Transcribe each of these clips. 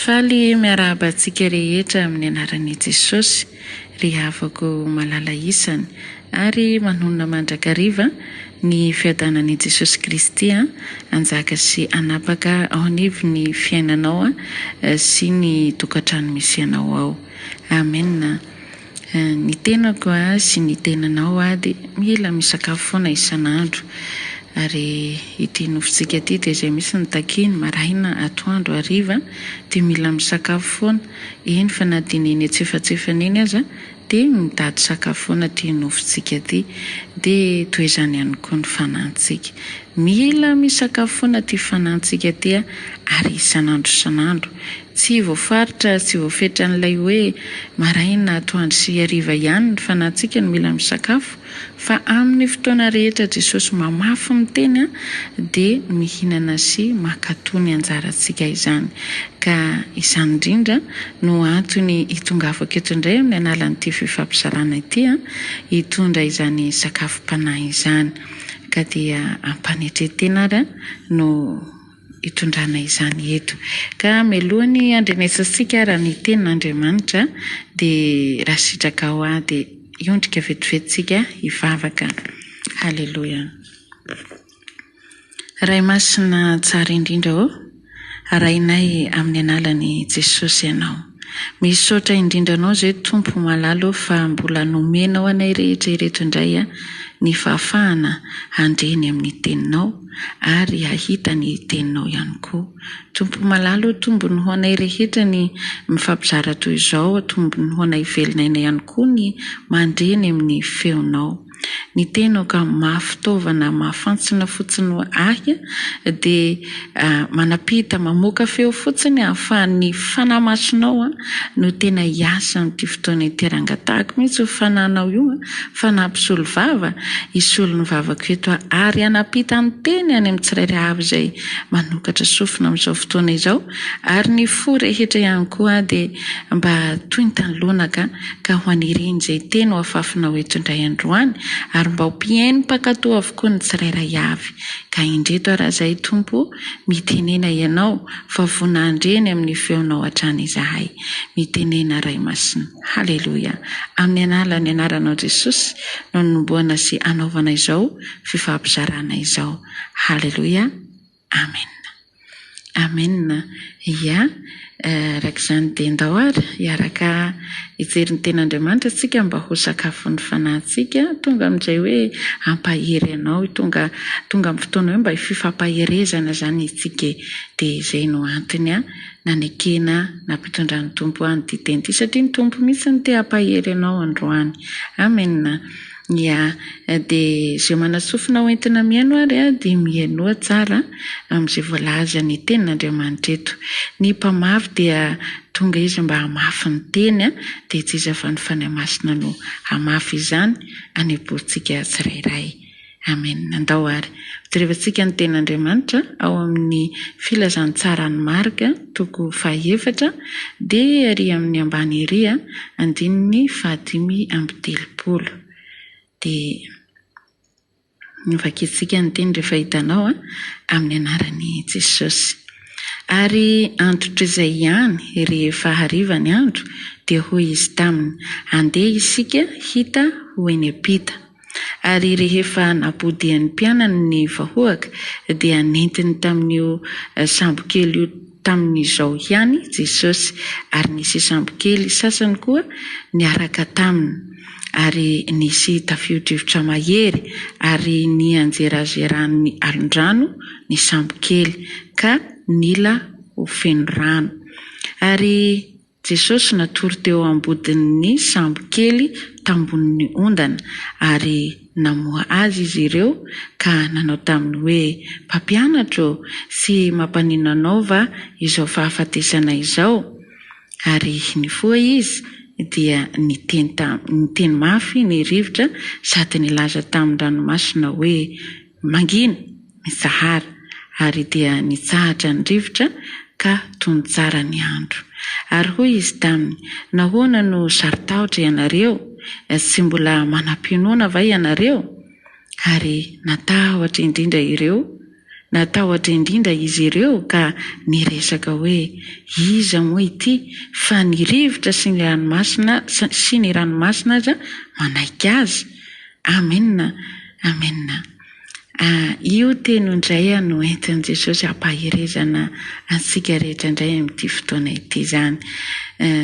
Faly miarahaba antsika rehetra amin'ny anaran'i Jesosy ry havako malala isany ary manonona mandrakariva ny fiadanan'i Jesosy Kristy hanjaka sy hanapaka ao anivon'ny fiainanao sy ny tokantrano misy anao ao. Amen. Ny tenako sy ny tenanao dia mila misakafo foana isan'andro. Ary ity nofontsika ity dia izay mihitsy no takiany, maraina, atoandro, hariva dia mila misakafo foana. Eny fa na dia ny eny antsefatsefany eny aza dia mitady sakafo foana ity nofontsika ity. Dia toy izany ihany koa ny fanantsika. Mila misakafo foana ity fanantsika ity ary isan'andro isan'andro. Tsy voafaritra ary tsy voafetran'ilay hoe maraina, atoandro sy hariva ihany ny fanahintsika no mila misakafo, fa amin'ny fotoana rehetra Jesosy mamafy ny teny dia mihinana sy mankatò ny anjarantsika izany. Ka izany indrindra no antony hitongavako eto indray amin'ny analan'ity fifampizarana ity, hitondra izany sakafom-panahy izany. Ka dia ampanetren-tena ary no. hitondrana izany eto. Ka melohan'ny handrenesantsika ary ny tenin'Andriamanitra dia raha sitraka ao aho dia hiondrika vetivety tsika hivavaka. Haleloia. Ray Masina tsara indrindra ô, arahinay amin'ny analan'i Jesosy Ianao. Misaotra indrindra Anao izay Tompo malala ô fa mbola nomenao anay rehetra ireto indray ny fahafahana handre ny amin'ny Teninao. ary hahita ny teninao ihany koa. Tompo malala ô tombony ho anay rehetra ny mifampizara toy izao tombony ho anay velona aina ihany koa ny mandre ny amin'ny feonao ny tenao ka mafy fitaovana mahafantsina fotsiny ho ahy dia manapita mamoaka feo fotsiny ahafahan'ny fanahy masinao no tena hiasa amin'ity fotoana ity rangatahako mihitsy io fanahinao io fa na mpisolo vava hisolo ny vavako eto aho, ary hanampita ny teny any amin'ny tsirairay avy izay manokatra sofina amin'izao fotoana izao, ary ny fo rehetra ihany koa dia mba tointan'ny lonaka, ka ho anirian'izay teny ho afafinao eto indray androany, ary mba ho mpihaino mpankatò avokoa ny tsirairay avy. Ka indreto ary izay, Tompo o, mitenena Ianao, fa voa nandre ny amin'ny feonao hatrany izahay. Mitenena, Ray Masina. Haleloia! Amin'ny Analan'ny Anaranao Jesosy no anombohana sy hanaovana izao fifampizarana izao. Haleloia! Amen! Amen! Ia, araka izany dia ndao ary hiaraka hijery ny Tenin'Andriamanitra isika mba ho sakafon'ny fanahintsika, tonga amin'izay hoe hampahery anao, tonga tonga amin'ny fotoana hoe mba hififampaherezana izany isika e! Dia izay no antony an! nanekena nampitondran'ny Tompo an ity teny ity satria ny Tompo mihitsy no te hampahery anao androany Amen ya de ze manasofina ho entina mihaino ary a de mihainoa tsara amze voalaza ny tenin'Andriamanitra eto ny mpamafy dia tonga izy mba hamafy ny teny a de itsy izy fa ny Fanahy Masina no hamafy izany hanempoantsika tsirairay. Amen! Andao àry ho terevantsika ny Tenin'Andriamanitra ao amin'ny Filazantsaran'i Marka, toko fahaefatra, dia ery amin'ny ambany ery, andininy fahadimy amby telopolo. Dia novakintsika ny teny rehefa hitanao amin'ny anaran'i Jesosy. Ary antotr'izay ihany, rehefa hariva ny andro, dia hoy izy taminy, Andeha isika hita ho eny am-pita. ary rehefa napodian'ny mpianany ny vahoaka dia nentiny tamin'io sambokely io tamin'izao ihany Jesosy, ary nisy sambokely sasany koa niaraka taminy, ary nisy tafio-drivotra mahery, ary nianjerazeran'ny alondrano ny sambokely, ka nila ho feno rano. Ary. Jesosy natory teo ambodin'ny sambo kely tambonin'ny ondana, ary namoha Azy izy ireo, ka nanao taminy hoe, Mpampianatra ô, tsy mampanino Anao va izao fahafatesana izao? Ary nifoha Izy, dia niteny niteny mafy ny rivotra sady nilaza tamin-dranomasina hoe, Mangina, mitsahara, ary dia nitsahatra ny rivotra ka tony tsara ny andro. Ary hoy Izy taminy, Nahoana no saro-tahotra ianareo? Tsy mbola manam-pinoana va ianareo? Ary natahotra indrindra ireo, natahotra indrindra izy ireo ka niresaka hoe, Iza moa ity, fa ny rivotra sy ny ranomasina sy ny ranomasina aza manaiky Azy? Amen Amen ah io teny io ndray ah no entin'i Jesosy hampaherezana antsika rehetra ndray amin'ity fotoana ity zany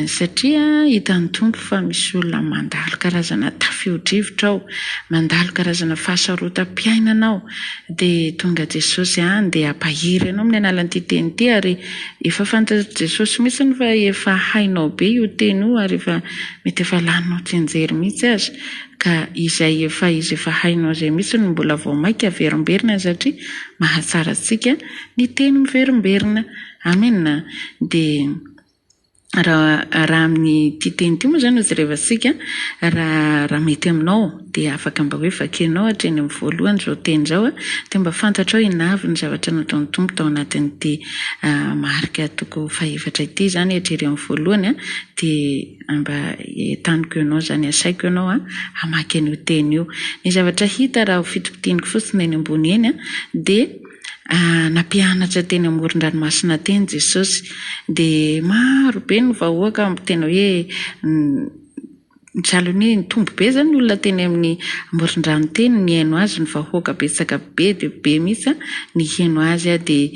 satria hitan'ny Tompo fa misy olona mandalo karazana tafio-drivotra ao mandalo karazana fahasarotam-piainana ao de tonga Jesosy ah ndeha hampahery anao amin'ny alalan'ity teny ity ary efa fantatr'i Jesosy mitsiny fa efa hainao be io teny io ary efa mety efa laninao tsianjery mitsy aza Ka izay efa izy efa hainao izay mihitsy no mbola vao maika averimberina satria mahatsara antsika ny teny miverimberina. Amena. Dia raha raha amin'ity teny ity moa izany no jerevantsika raha raha mety aminao dia afaka mba hoe vakianao hatreny amin'ny voalohany izao teny izao dia mba fantatrao i Navy ny zavatra nataon'ny Tompo tao anatin'ity marika toko fahefatra ity izany hatrery amin'ny voalohany dia Mba entaniko ianao izany, asaiko ianao hamaky an'io teny io. Ny zavatra hita raha ho fitopitianiko fotsiny eny ambony eny dia nampianatra teny amoron-dranomasina teny Jesosy, dia maro be ny vahoaka tena hoe sahalan'ny hoe nitombo be izany ny olona teny amin'ny amoron-drano teny nihaino azy, ny vahoaka betsaka be dia be mihitsy niheno azy dia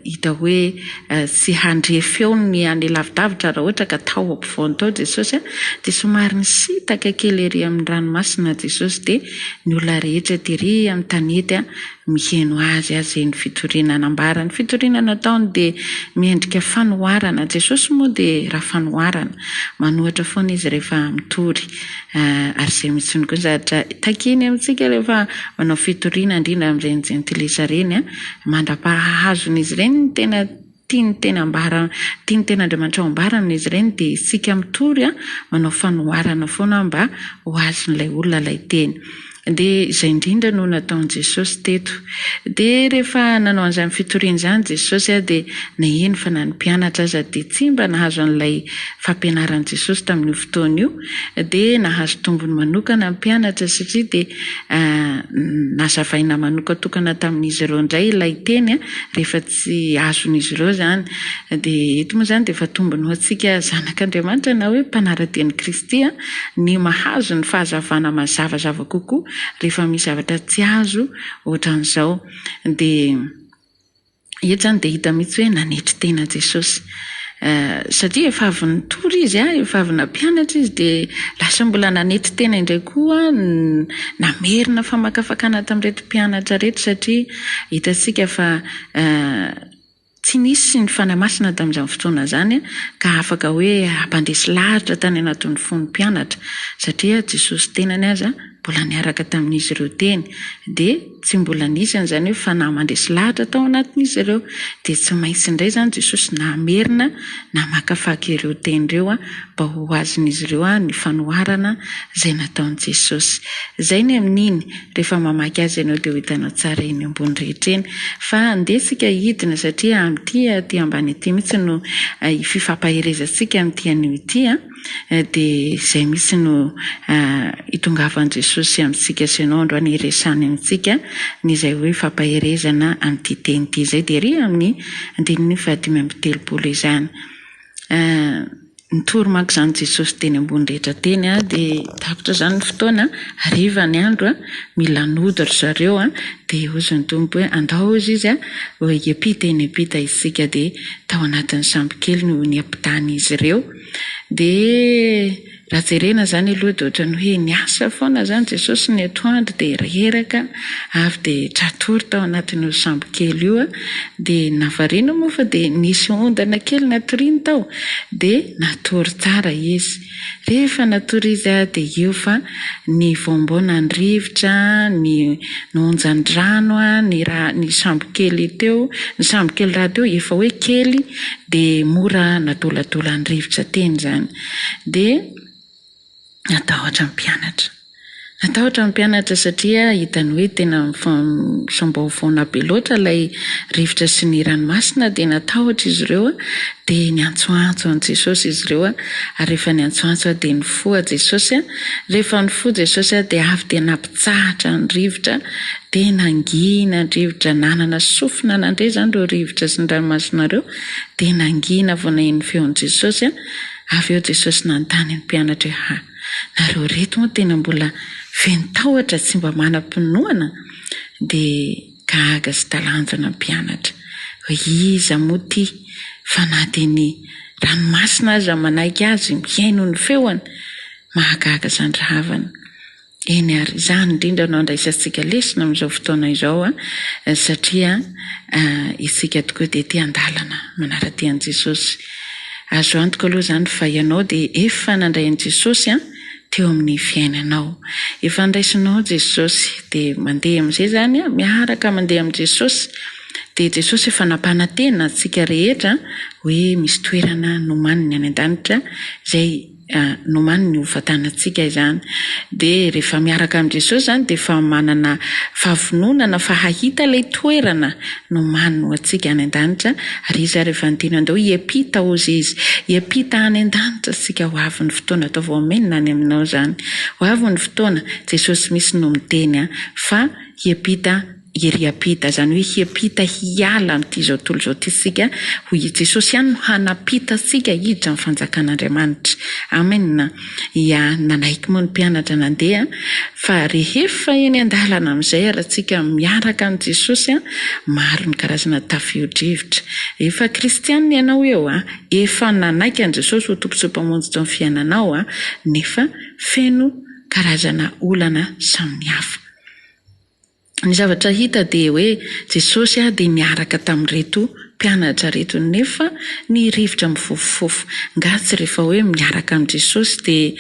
hita hoe Tsy handre feo ny any lavidavitra raha ohatra ka tao ampovoany tao Jesosy dia somary nisintaka kely ery amin'ny ranomasina Jesosy dia ny olona rehetra tery amin'ny tanety miheno Azy ary izay ny fitoriana nambara ny fitoriana nataony dia miendrika fanoharana Jesosy moa dia ra fanoharana manohatra foana Izy rehefa mitory ary izay mitsiny koa ny zavatra takiany amintsika rehefa manao fitoriana indrindra amin'ireny jentilisa ireny mandra-pahahazon'izy ireny ny tena tiany tena ambara tiany tena Andriamanitra ho ambaran'izy ireny dia isika mitory manao fanoharana foana mba ho azon'ilay olona ilay teny dia izay indrindra no nataon'i Jesosy teto dia rehefa nanao an'izany fitoriana izany Jesosy dia naheno fa na ny mpianatra aza dia tsy mba nahazo an'ilay fampianaran'i Jesosy tamin'io fotoana io dia nahazo tombony manokana ny mpianatra satria dia nazavaina manokatokana tamin'izy ireo indray ilay teny rehefa tsy azon'izy ireo izany. Dia eto moa izany dia efa tombony ho antsika zanak'Andriamanitra na hoe mpanara-dia an'i Kristy ny mahazo ny fahazavana mazavazava kokoa rehefa misy zavatra tsy azo ohatran'izao. Dia. Eto izany dia hita mihitsy hoe nanetry tena Jesosy. Satria efa avy nitory izy, efa avy nampianatra izy, dia lasa mbola nanetry tena indray koa, namerina famakafakana tamin'ireto mpianatra ireto, satria hitantsika fa tsy nisy ny Fanahy Masina tamin'izany fotoana izany ka afaka hoe hampandresy lahatra tany anatin'ny fon'ny mpianatra, satria Jesosy tenany aza mbola niaraka tamin'izy ireo teny. Dia. Tsy mbola nisy an'izany hoe fanahy mandresy lahatra tao anatin'izy ireo. Dia tsy maintsy indray izany Jesosy namerina namakafaka ireo teny ireo mba ho azon'izy ireo ny fanoharana izay nataon'i Jesosy. Izay ny amin'iny, rehefa mamaky azy ianao dia ho hitanao tsara eny ambony rehetra eny. Fa andeha isika hidina satria amin'ity aty ambany ity mihitsy no fifampaherezantsika amin'ity anio ity. dia izay mihitsy no hitongavan'i Jesosy amintsika sy ianao androany hiresany amintsika ny izay hoe fampaherezana amin'ity teny ity izay dia ery amin'ny andininy fahadimy amby telopolo izany nitory manko izany Jesosy teny ambony rehetra teny a dia tapitra izany ny fotoana hariva ny andro a mila nody ry zareo a dia hozy ny tompo hoe andao hozy izy a hoe hiampita eny ampita isika dia tao anatin'ny sambokely no niampitany izy ireo Dia raha jerena izany aloha dia ohatran'ny hoe niasa foana izany Jesosy ny atoandro dia reraka avy dia tra-tory tao anatin'io sambo kely io dia navarina moa fa dia nisy ondana kely natoriany tao dia natory tsara izy. Rehefa natory izy dia eo fa ny vaombao nandrivotra, ny onjan-drano, ny ra, ny sambo kely teo, ny sambo kely rahateo efa hoe kely, dia mora anadoladolan'ny rivotra teny izany. Dia natahotra ny mpianatra. Natahotra ny mpianatra satria hitany hoe tena misambaovaona be loatra ilay rivotra sy ny ranomasina dia natahotra izy ireo dia niantsoantso an'i Jesosy izy ireo ary rehefa niantsoantso dia nifoha Jesosy. Rehefa nifoha Jesosy dia avy dia Nitsahatra ny rivotra, dia nangina ny rivotra, nanana sofina nandre izany ireo rivotra sy ny ranomasina ireo, dia nangina vao naheno ny feon'i Jesosy, avy eo Jesosy nanontany ny mpianatra hoe, Ha, nareo reto moa tena mbola feno tahotra, tsy mba manam-pinoana? Dia gaga sy talanjona ny mpianatra, hoe, Iza moa ity, fa na dia ny ranomasina aza manaiky azy mihaino ny feony? Mahagaga izany rahavana. Eny ary, izany indrindra no andraisantsika lesona amin'izao fotoana izao satria isika tokoa dia te handalana manara-dia an'i Jesosy. Azo antoka aloha izany fa ianao dia efa nandray an'i Jesosy teo amin'ny fiainanao. Efa andraisinao Jesosy dia mandeha amin'izay izany, miaraka mandeha amin'i Jesosy. Dia Jesosy efa nampanantena antsika rehetra hoe misy toerana nomaniny any an-danitra izay. Nomany ny ho fatanantsika izany. Dia rehefa miaraka amin'i Jesosy izany dia efa manana fahavononana fa hahita ilay toerana nomaniny ho antsika any an-danitra ary Izy ary efa niteny hoe andao hiampita hozy Izy, hiampita any an-danitra isika, ho avy ny fotoana atao voamenina any aminao izany, ho avy ny fotoana, Jesosy mihitsy no miteny fa hiampita. Ery hiampita, izany hoe hiampita hiala amin'ity izao tontolo izao ity isika, hoy i Jesosy ihany no hanampita antsika hiditra amin'ny fanjakan'Andriamanitra. Amena. Ia, nanaiky moa ny mpianatra nandeha, fa rehefa eny an-dalana amin'izay ary isika miaraka amin'i Jesosy, maro ny karazana tafio-drivotra. Efa kristiana ianao eo, efa nanaiky an'i Jesosy ho Tompo sy Mpamonjitry ny fiainanao, nefa feno karazana olana samihafa. Ny zavatra hita dia hoe Jesosy dia niaraka tamin'ireto mpianatra ireto nefa ny rivotra mifofofofo. Nga tsy rehefa hoe miaraka amin'i Jesosy dia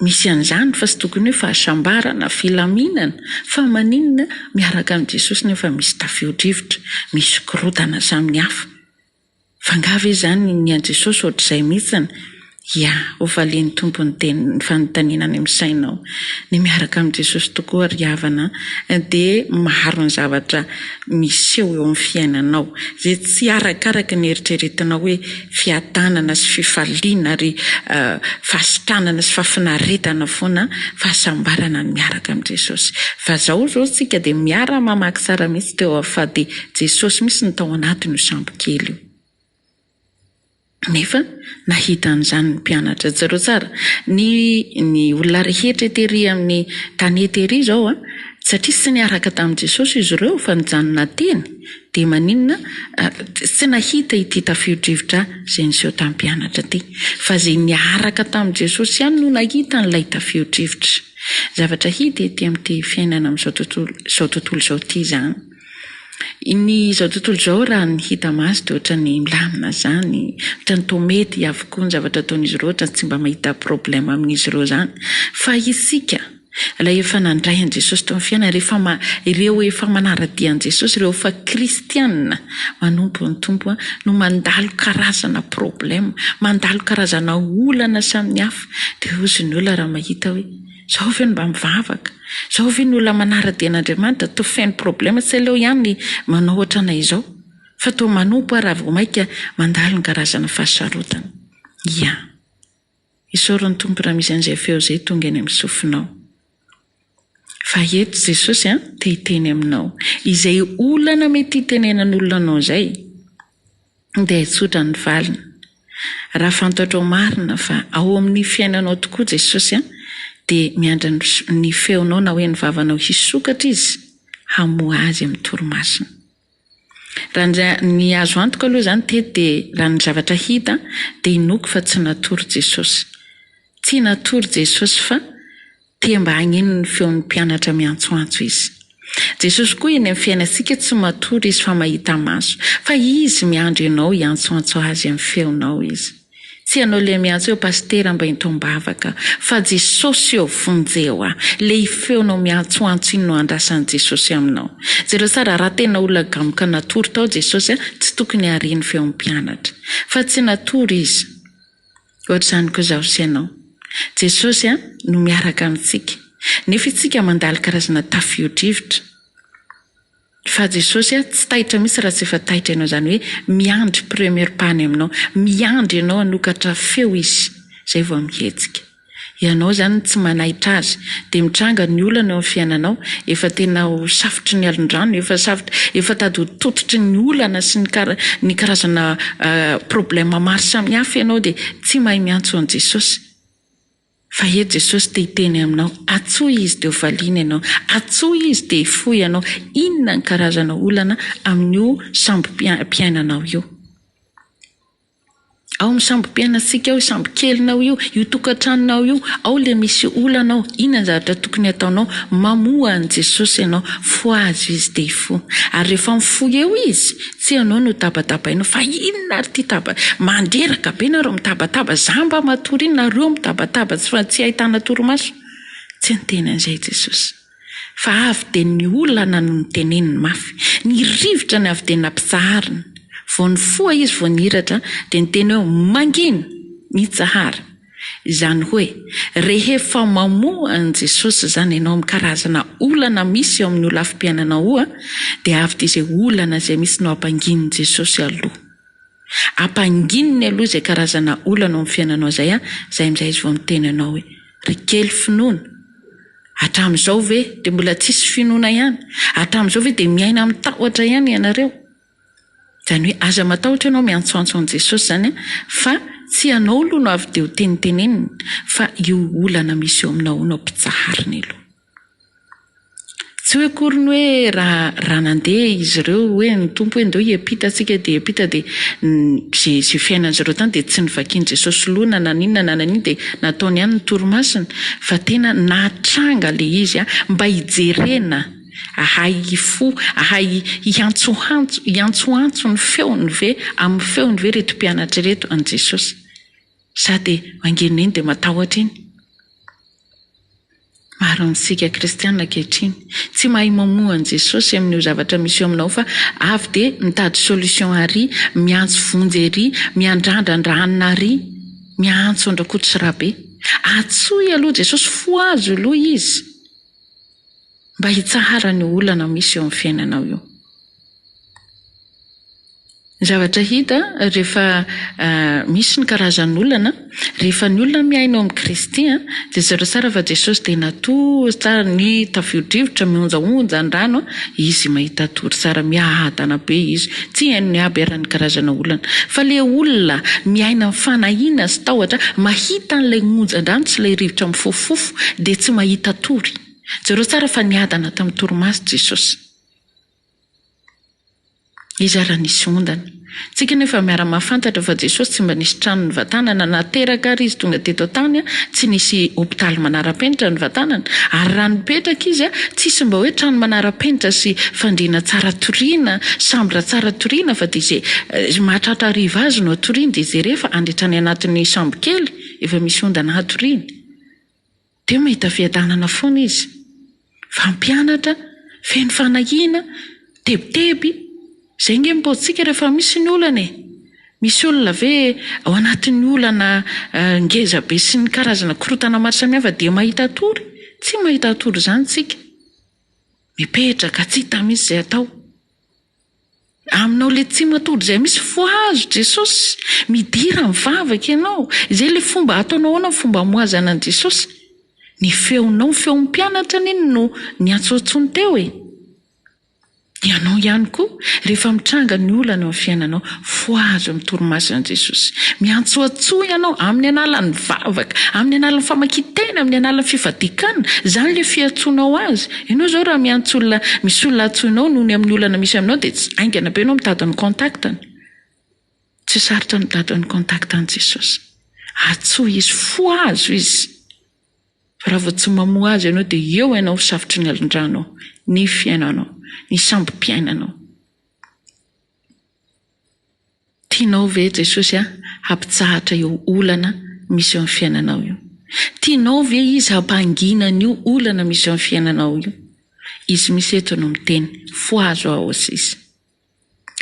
misy an'izany fa tsy tokony hoe fahasambarana, filaminana fa maninona miaraka amin'i Jesosy nefa misy tafio-drivotra, misy korotana samihafa. Fa nga ve izany ny an'i Jesosy ohatr'izay mihitsiny? Ia, ho valian'ny Tompo ny teny, ny fanontaniana any amin'ny sainao. Ny miaraka amin'i Jesosy tokoa, ry havana an, dia maro ny zavatra miseho eo amin'ny fiainanao, izay tsy arakaraka ny eritreretinao hoe fiadanana sy fifaliana ary fahasitranana sy fahafinaretana foana, fahasambarana ny miaraka amin'i Jesosy. Fa izao izao isika dia miara-mamaky tsara mihitsy teo avofaha-dia Jesosy mihitsy no tao anatin'io sambo kely io. Nefa nahita an'izany ny mpianatra. Jereo tsara ny ny olona rehetra tery amin'ny tany eto ery izao a! Satria tsy niaraka tamin'i Jesosy izy ireo fa nijanona teny, dia maninona tsy nahita ity tafio-drivotra izay niseho tamin'ny mpianatra ity? Fa izay niaraka tamin'i Jesosy ihany no nahita an'ilay tafio-drivotra. Zavatra hita ety amin'ity fiainana amin'izao tontolo izao tontolo izao ity izany. Ny izao tontolo izao raha ny hita maso dia ohatran'ny milamina izany, ohatran'ny toa mety avokoa ny zavatra ataon'izy ireo, ohatran'ny tsy mba mahita problème amin'izy ireo izany. Fa isika, ilay efa nandray an'i Jesosy teo amin'ny fiainany, rehefa ma- ireo efa manara-dia an'i Jesosy, ireo efa kristiana manompo ny Tompo, no mandalo karazana problème, mandalo karazana olana samihafa. Dia hozy ny olona raha mahita hoe. Zao ve no mba mivavaka? Zao ve ny olona manara-dia an'Andriamanitra toa feno problème tsy aleo ihany ny manao ohatranay izao fa toa manompo aho raha vao maika mandalo ny karazana fahasarotana. Ia. Isaory ny Tompo raha misy an'izay feo izay tonga eny amin'ny sofinao. Fa eto Jesosy an, te hiteny aminao izay olana mety hitenenan'olona anao izay. dia hitsotra ny valiny. Raha fantatrao marina fa ao amin'ny fiainanao tokoa Jesosy dia miandry ny feonao na hoe ny vavanao hisokatra Izy hamoha azy amin'ny torimasony. Raha ny azo antoka aloha izany teto dia raha ny zavatra hita dia inoako fa tsy natory Jesosy. Tsy natory Jesosy fa. Te mba hagnino ny feon'ny mpianatra miantsoantso Izy. Jesosy koa eny amin'ny fiainantsika tsy matory Izy fa mahita maso. Fa Izy miandry anao hiantsoantso Azy amin'ny feonao Izy. Tsy ianao leha miantso eo Pasitera mba ento am-bavaka fa Jesosy eo vonjeo a! Leha i feonao miantsoantso iny no andrasan'i Jesosy aminao. Jereo tsara raha tena olona gamoka natory tao Jesosy a! Tsy tokony hariany feon'ny mpianatra. Fa tsy natory Izy. Ohatr'izany koa izaho sy ianao. Jesosy no miaraka amintsika, nefa itsika mandalo karazana tafio-drivotra. Fa Jesosy tsy taitra mihitsy raha tsy efa taitra ianao, izany hoe miandry premier pas any aminao, miandry ianao hanokatra feo Izy, izay vao mihetsika. Ianao izany tsy manaitra azy dia mitranga ny olana eo amin'ny fiainanao, efa tena ho safotry ny alondrano, efa safotra, efa tady ho tototry ny olana sy ny karazana problème maro samihafa ianao dia tsy mahay miantso an'i Jesosy. Fa eto Jesosy te hiteny aminao, antsoy Izy dia ho valiana ianao, antsoy Izy dia hifoha ianao inona ny karazana olana amin'io sambo-piainanao io. Ao amin'ny sambo-piainantsika ao, sambo-kelinao io, io tokantranonao io, ao ilay misy olana ao, inona ny zavatra tokony hataonao? Mamoha an'i Jesosy ianao, fohazo izy dia hifoha. Ary rehefa mifoha eo izy, tsy ianao no tabatabainao fa inona ary ity taba-, mandreraka be nareo mitabataba, izaho mba matory iny nareo mitabataba tsy fa tsy ahitana torimaso? Tsy niteny an'izay Jesosy. Fa avy dia ny olana no niteneniny mafy. Ny rivotra ny avy dia nampitsahariny. Vao nifoha izy vao nihiratra dia niteny hoe, Mangina! Mitsahara! Izany hoe, rehefa mamoha an'i Jesosy izany ianao amin'ny karazana olana misy eo amin'ny holafi-piainanaoa dia avy dia izay olana izay misy no hampanginin'i Jesosy aloha. Ampangininy aloha izay karazana olana ao amin'ny fiainanao izay izay amin'izay izy vao miteny anao hoe, Ry kely finoana! Hatramin'izao ve dia mbola tsisy finoana ihany? Hatramin'izao ve dia miaina amin'ny tahotra ihany ianareo? Izany hoe aza matahotra ianao miantsoantso an'i Jesosy izany an, fa tsy ianao aloha no avy dia ho teniteneniny fa io olana misy eo aminao io no ampitsahariny aloha. Tsy hoe akory ny hoe raha raha nandeha izy ireo hoe ny Tompo hoe ndao hiampita antsika dia hiampita dia izay izay fiainan'izy ireo tany dia tsy novakian'i Jesosy loha na naninona na naninona dia Nataony ihany ny torimasony fa tena nahatranga le izy a, mba hijerena ahay hifoha, ahay hihantsohantso, hiantsoantso ny feony ve, amin'ny feony ve ireto mpianatra ireto an'i Jesosy? Sa dia angenony iny dia matahotra iny? Maro amintsika kristiana ankehitriny tsy mahay mamoha an'i Jesosy amin'io zavatra misy eo aminao fa avy dia mitady solution ary, miantso vonjy ery, miandrandrandra hanina ary, miantso an-dRakototsirabe. Antsoy aloha Jesosy, fohazo aloha Izy mba hitsahara an'io olana misy eo amin'ny fiainanao io. Ny zavatra hita rehefa misy ny karazan'olana, rehefa ny olona mihaino an'i Kristy dia zara tsara fa Jesosy dia natory tsara ny tafiodrivotra mionjaonja an-drano izy mahita tory tsara miadana be izy, tsy hain'ny aby ary ny karazana olana fa le olona miaina amin'ny fanahiana sy tahotra mahita an'ilay onjan-drano sy ilay rivotra mifofofofo dia tsy mahita tory, jereo tsara fa niadana tamin'ny torimaso Jesosy. Iza ary nisy ondana? Tsika anie efa miara mahafantatra fa Jesosy tsy mba nisy trano nivatanana na teraka ary izy tonga teto an-tany a, tsy nisy hopitaly manara-penitra nivatanana ary raha nipetraka izy a, tsisy mba hoe trano manara-penitra sy fandriana tsara toriana, sambra tsara toriana fa dia izay mahatratra hariva azy no hatoriany dia izay rehefa handry hatrany anatin'ny sambokely efa misy ondana hatoriany. Dia mahita fiadanana foana izy. Mpampianatra, feno fanahiana, tebiteby, izay ange ny paotintsika rehefa misy ny olana e! Misy olona ve ao anatin'ny olana ngeza be sy ny karazana korontana maro samihafa dia mahita tory? Tsy mahita tory izany tsika. Mipetraka, tsy hita mihitsy izay atao. Aminao le tsy matory zay misy fohazo Jesosy midira mivavaka ianao izay le fomba ataonao ahoana ny fomba amohazana an'i Jesosy ny feonao ny feon'ny mpianatra anie no niantsoantsony teo e ianao ihany koa rehefa mitranga ny olana eo amin'ny fiainanao fohazo amin'ny torimaso an'i Jesosy miantsoantsoa ianao amin'ny analan'ny vavaka amin'ny analan'ny famakian-tena amin'ny analan'ny fifadiakana izany le fiantsoanao azy Ianao izao raha miantso olona, misy olona antsoinao noho ny amin'ny olana misy aminao dia tsy haingana be ianao mitady ny contact-ny. Tsy sarotra ny mitady ny contact-n'i Jesosy. Antsoy Izy, fohazo Izy. Fa raha vao tsy mamoha Azy ianao dia eo ianao ho safotry ny alin-dranao, ny fiainanao, ny sambom-piainanao. Tianao ve Jesosy hampitsahatra io olana misy eo amin'ny fiainanao io? Tianao ve Izy hampangina an'io olana misy eo amin'ny fiainanao io? Izy misy eto no miteny, Fohazo Aho, hoy Izy.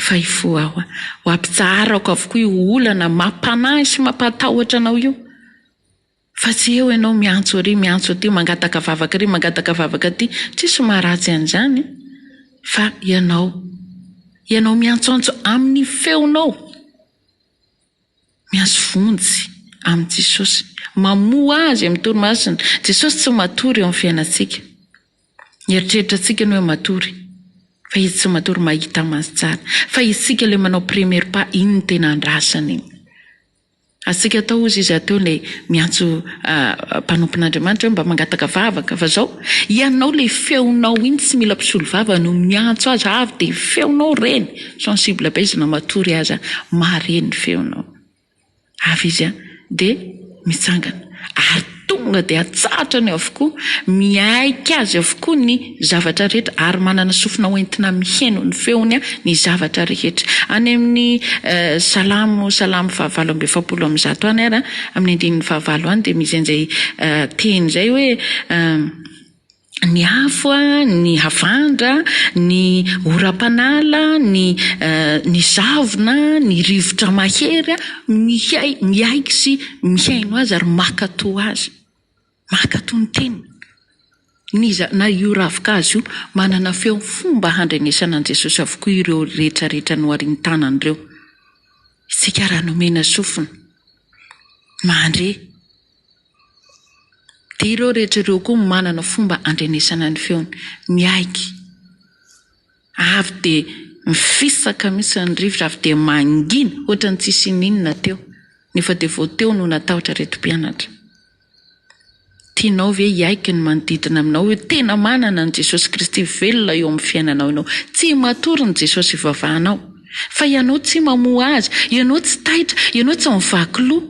Fa hifoha Aho, ho ampitsaharako avokoa io olana mampanahy sy mampatahotra anao io. Fa tsy eo ianao miantso ary miantso aty, mangataka vavaka ary mangataka vavaka aty, tsisy maharatsy an'izany fa ianao, ianao miantsoantso amin'ny feonao, miantso vonjy amin'i Jesosy, mamoha Azy amin'ny Toriny Masina. Jesosy tsy matory eo amin'ny fiainantsika, mieritreritra antsika ny hoe matory, fa Izy tsy matory, mahita an'Azy tsara, fa isika ilay manao premier pas, iny no tena andrasana iny. Azontsika atao hozy izy ato ilay miantso mpanompon'Andriamanitra hoe mba mangataka vavaka fa zao ianao ilay feonao iny tsy mila mpisolo vava no miantso azy fa avy dia feonao reny sensible be izy na matory aza mahare ny feonao avy izy dia mitsangana ary Tonga dia atsahatra ny avokoa, miaiky azy avokoa ny zavatra rehetra, ary manana sofina hoentina miheno ny feony ny zavatra rehetra. Any amin'ny Salamo, Salamo fahavalo amby efapolo amby zato any ary, amin'ny andininy fahavalo any dia misy an'izay teny izay hoe. ny afo, ny havandra, ny oram-panala, ny ny zavona, ny rivotra mahery mihay miaiky sy mihaino azy ary mankatò azy, mankatò ny teniny. N'iza na io ravin-kazo io, manana feo fomba handrenesana an'i Jesosy avokoa ireo rehetrarehetra noharin-tanany ireo. Isika raha nomena sofina, mandre. Dia ireo rehetra ireo koa manana fomba andrenesana ny feony, miaiky, avy dia mifisaka mihitsy ny rivotra, avy dia mangina ohatra ny tsy hisy ininona teo, nefa dia vao teo no natahotra ireto mpianatra. Tianao ve hiaiky ny manodidina aminao hoe tena manana an'i Jesosy Kristy velona eo amin'ny fiainanao ianao? Tsy matory ny Jesosy ivavahanao, fa ianao tsy mamoha Azy, ianao tsy taitra, ianao tsy mivaky loha.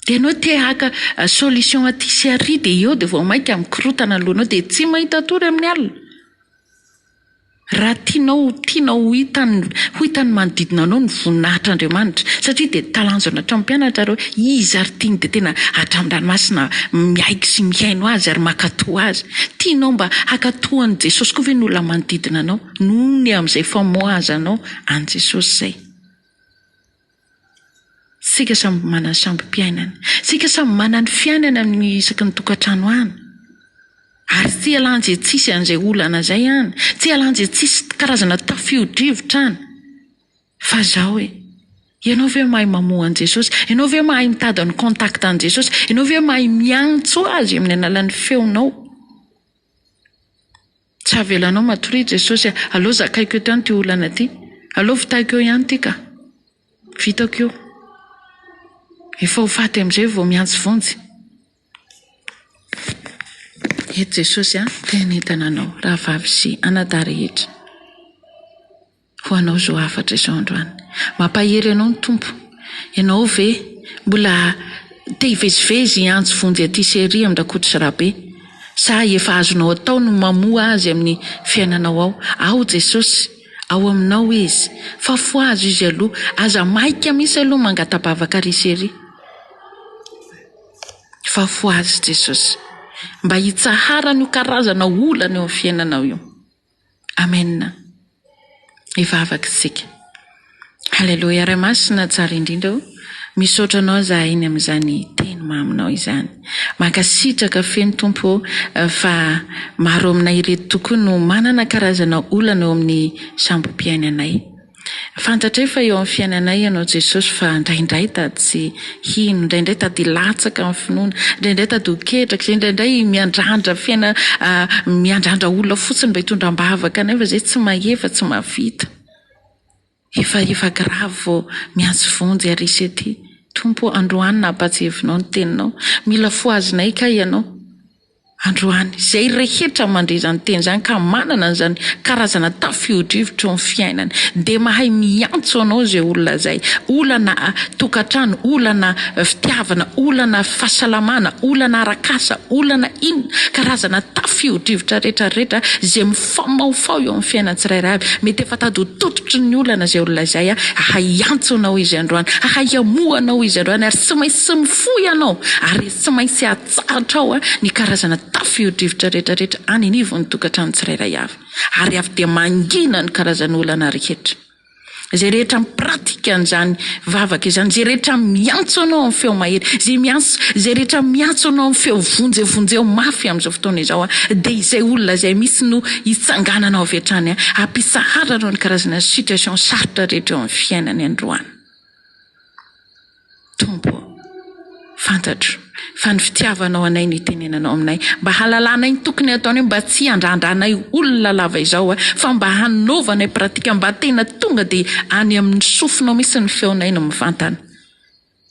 Ianao te haka solution aty sy ary dia eo dia vao mainka mikorontana ny lohanao dia tsy mahita tory amin'ny alina. Raha tianao ho tianao ho hitan'ny ho hitan'ny manodidina anao ny voninahitr'Andriamanitra satria dia talanjona hatramin'ny mpianatra ary hoe iza ary tiany dia tena hatramin-dranomasina miaiky sy mihaino azy ary mankatò azy. Tianao mba hankatò an'i Jesosy koa ve ny olona manodidina anao noho ny amin'izay famoahazanao an'i Jesosy izay? Isika samy manana ny sambo-piainany. Isika samy manana ny fiainany amin'ny isaky ny tokantrano any. Ary tsy hialanjy antsisy an'izay olana izay any. Tsy hialanjy antsisy karazana tafio-drivotra any. Fa izao e, ianao ve mahay mamoha an'i Jesosy? Ianao ve mahay mitady ny contact an'i Jesosy? Ianao ve mahay miantso Azy amin'ny alalan'ny feonao? Tsy havelanao matoria i Jesosy a! Aleo zakaiko eto ihany ity olana ity. Aleo vitako eo ihany ity ka! Vitako io. Efa ho faty amin'izay vao mihantsy vonjy. Eto Jesosy a! Te hanentana anao, rahavavy sy anadahy rehetra. Ho anao izao hafatra izao androany. Mampahery anao ny Tompo. Ianao ve mbola te hivezivezy hiantso vonjy aty sy ery amin-dRakoto sy Rabe? Sa efa azonao atao ny mamoha Azy amin'ny fiainanao ao? Ao Jesosy! Ao aminao Izy! Fafo Azy Izy aloha! Aza maika mihitsy aloha mangata-bavaka ary sy ery! Fafo Azy Jesosy! Mba hitsaharany io karazana olana eo amin'ny fiainanao io. Amen! Hivavaka isika. Haleloia! Ray Masina tsara indrindra o! Misaotra Anao izahay ny amin'izany Teny maminao izany. Mankasitraka feno Tompo o! Fa maro aminay ireto tokoa no manana karazana olana eo amin'ny sambom-piainanay. Fantatray fa eo amin'ny fiainanay Ianao Jesosy fa indraindray tadiy hino, indraindray tadiy latsaka amin'ny finoana, indraindray tadiy ho ketraka, indraindray miandrandra fiaina miandrandra olona fotsiny mba hitondra am-bavaka anay fa izay tsy mahefa, tsy mahavita. Efa efa gravy vao miantso vonjy ary hisy aty. Tompo ô, androany nampahatsiavinao ny Teninao. Mila fohazinay kay Ianao. Androany, izay rehetra mandre izany teny izany ka manana an'izany karazana tafiodrivotro ny fiainany dia mahay miantso anao izay olona izay, olana tokantrano, olana fitiavana, olana fahasalamana, olana arak'asa, olana inona, karazana tafiodrivotra rehetra rehetra izay mifamahofaho eo amin'ny fiainan'ny tsirairay avy. Mety efa tady ho tototry ny olana izay olona izay, hahay hiantso anao izy androany, hahay hamoha anao izy androany ary tsy maintsy mifoha ianao ary tsy maintsy Tsarantrao ny karazana tafio-drivotra rehetrarehetra any anivon'ny tokantrano tsirairay avy, ary avy dia mangina ny karazan'olana rehetra. Izay rehetra mipratika an'izany vavaka izany, izay rehetra miantso Anao amin'ny feo mahery, izay miantso, izay rehetra miantso Anao amin'ny feo vonjeo, vonjeo mafy amin'izao fotoana izao, dia izay olona izay mihitsy no hitsangananao avy hatrany, hampitsaharanao ny karazana situation sarotra rehetra eo amin'ny fiainany androany. Tompo ô, fantatro fa ny fitiavanao anay no itenenanao aminay, mba hahalalanay ny tokony hataonay mba tsy handrandranay olona lava izao aho, fa mba hanaovanay pratika mba tena tonga dia any amin'ny sofinao mihitsy ny feonay no mivantana,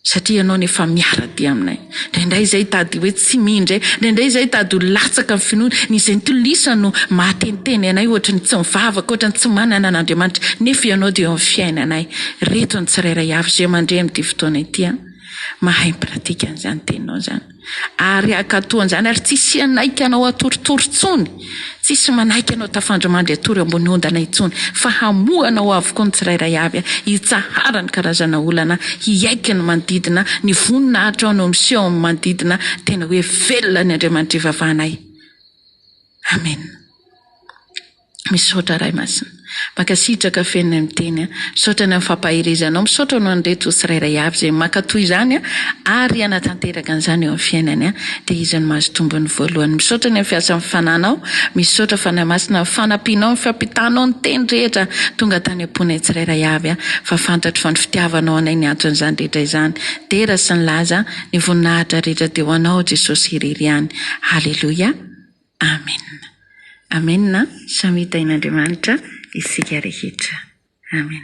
satria ianao anie efa miara-dia aminay. Indraindray izay hitady hoe tsy mindre, indraindray izay hitady ho latsaka amin'ny finoana, ny izay nitolisa no mahateniteny anay ohatry ny tsy mivavaka, ohatry ny tsy manana an'Andriamanitra, nefa Ianao dia eo amin'ny fiainanay. Reto ny tsirairay avy izay mandre amin'ity fotoana ity an! Mahay mipratika an'izany Teninao izany. Ary hankatò an'izany ary tsy hisianay ka Anao hatoritory intsony. Tsisy manaiky anao tafandry mandry hatory ambony ondana intsony fa hamohana ho avokoa ny tsirairay avy hitsahara ny karazana olana hiaiky ny manodidina ny voninahitrao no miseho amin'ny manodidina tena hoe velona ny Andriamanitr'ivavahanay Amen Misaotra Ray masina. Mankasitraka feno ny miteny a. Misaotra ny amin'ny fampaherezanao. Misaotra ho an'ireto tsirairay avy izay mankatoa izany ary hanatanteraka an'izany eo amin'ny fiainany a. Dia izy no mahazo tombony voalohany. Misaotra ny amin'ny fiasan'ny fananao. Misaotra Fanahy Masina amin'ny fanampianao, ny fampitanao ny teny rehetra tonga tany am-ponay tsirairay avy a. Fa fantatro fa ny fitiavanao anay ny anton'izany rehetra izany. Dera sy ny laza, ny voninahitra rehetra dia ho anao Jesosy irery ihany. Haleloia. Amen Amen a Samy hitain'Andriamanitra isika rehetra Amen.